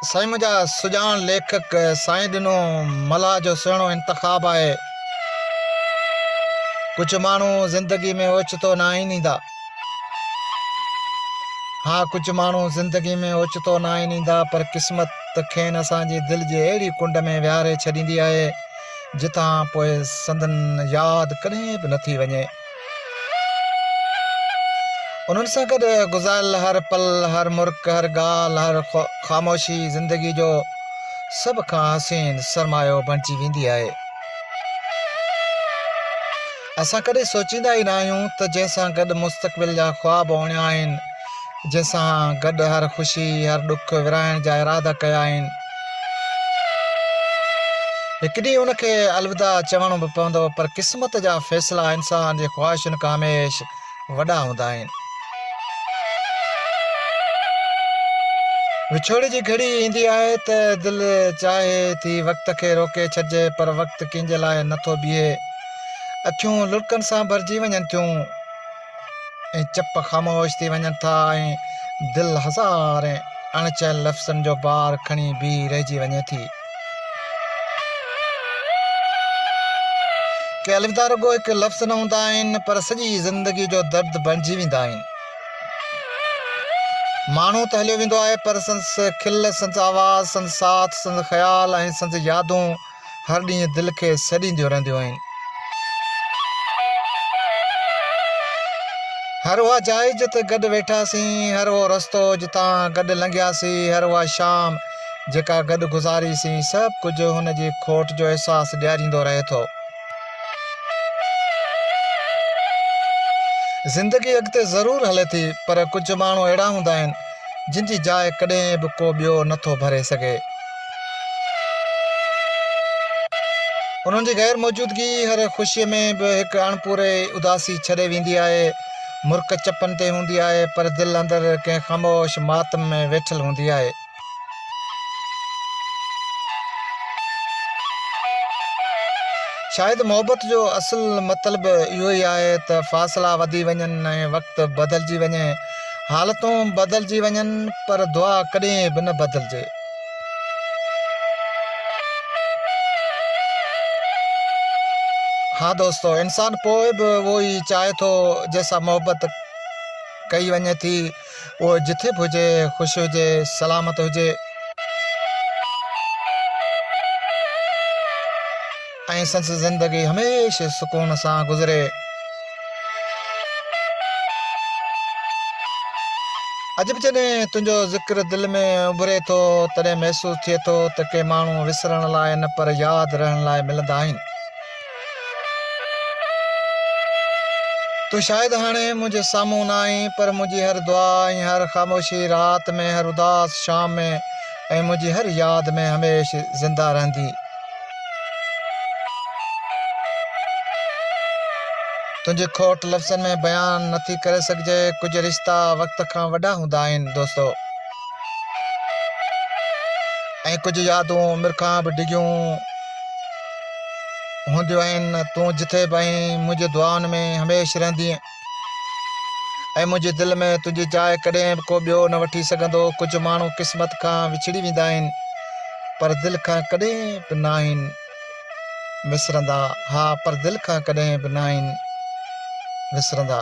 سائين منهنجا سڄاڻ ليکڪ سائين ڏنو ملاح جو سهڻو انتخاب آهي ڪجهه ماڻهو زندگي ۾ اوچتو نه آهن ايندا ها ڪجهه ماڻهو زندگي ۾ اوچتو نه آهن ايندا پر قسمت کين اسان جي دل جي اهڙي ڪنڊ ۾ ويهاري ڇڏيندي آهي جتان پوء سندن ياد ڪڏهن به نٿي وڃي انهن سان گڏ گذاريل هر پل، هر مرڪ، هر ڳالهه، هر خاموشي زندگي جو سڀ کان حسين سرمايو بڻجي ويندي آهي. اسان ڪڏهن سوچيندا ئي نه آهيون ته جنهن سان گڏ مستقبل جا خواب اڻيا آهن، جنهن سان گڏ هر خوشي، هر ڏک ورهائڻ جا ارادا ڪيا آهن، هڪ ڏينهن ان کي الوداع چوڻو به پوندو پر قسمت جا فيصلا انسان جي خواهشن کان هميش وڏا هوندا آهن. وڇوڙي جي گهڙي ايندي آهي ته دل چاهي ٿي وقت کي روڪي ڇڏجي پر وقت ڪنهن جي لاء نه ٿو بيهي. اکيون لڙڪن سان ڀرجي وڃن ٿيون. ۽ چپ خاموش ٿي وڃن ٿا ۽ دل هزارين اڻ چيل لفظن جو بار کڻي بيهي رهجي وڃي ٿي. ڪي الوداع رڳو هڪ لفظ نه هوندا آهن پر سڄي زندگي جو درد بڻجي ويندا آهن. ماڻهو ته هليو ويندو آهي پر سندس کل، سندس آواز، سندس ساٿ، سندس خيال ۽ سندس يادون هر ڏينهن دل کي سڏينديون رهنديون آهن. هر اها جاء جتي گڏ ويٺاسين، هر اهو رستو جتان گڏ لنگهياسين، هر اها شام جيڪا گڏ گذاري سين، سڀ ڪجهه هن جي کوٽ جو احساس ڏياريندو رهي ٿو. زندگي اڳتي ضرور هلي ٿي پر ڪجهه ماڻهو اهڙا هوندا آهن، جن جي جاء ڪڏهن به ڪو ٻيو نٿو ڀري سگهي. انهن جي غير موجودگي هر خوشيء ۾ به هڪ اڻپوري اداسي ڇڏي ويندي آهي. مرڪ چپن تي هوندي آهي، پر دل اندر ڪنهن خاموش ماتم ۾ ويٺل هوندي آهي. شايد محبت جو اصل مطلب اهو ئي آهي ته فاصلا وڌي وڃن ۽ وقت بدلجي وڃي، حالتون بدلجي وڃن، پر دعا ڪڏهن به نه بدلجي. ها دوستو انسان پوء به اهو ئي چاهي ٿو جنهن سان محبت ڪئي وڃي ٿي اهو جٿي به هجي خوش هجي سلامت هجي. ۽ سندس زندگي هميشه سڪون سان گذري. عجب جڏهن تنهنجو ذڪر دل ۾ اڀري ٿو تڏهن محسوس ٿئي ٿو ته ڪي ماڻهو وسرڻ لاء نه پر ياد رهڻ لاء ملندا آهن. تون شايد هاڻي منهنجي سامهون نه آهين پر منهنجي هر دعا ۽ هر خاموشي رات ۾ هر اداس شام ۾ ۽ منهنجي هر ياد ۾ هميشه زنده رهندين. تنهنجي کوٽ لفظن ۾ بيان نه ٿي ڪري سگهجي. ڪجهه رشتا وقت کان وڏا هوندا آهن دوستو. ۽ ڪجهه يادون عمر کان به ڊگهيون هونديون آهن. تون جٿي به آهين منهنجي دعائن ۾ هميشھ رهندينء. ۽ منهنجي دل ۾ تنهنجي جاء ڪڏهن به ڪو ٻيو نه وٺي سگهندو. ڪجهه ماڻهو قسمت کان وڇڙي ويندا آهن، پر دل کان ڪڏهن به ناهن وسرندا. ها، پر دل کان ڪڏهن به ناهن وسرندا.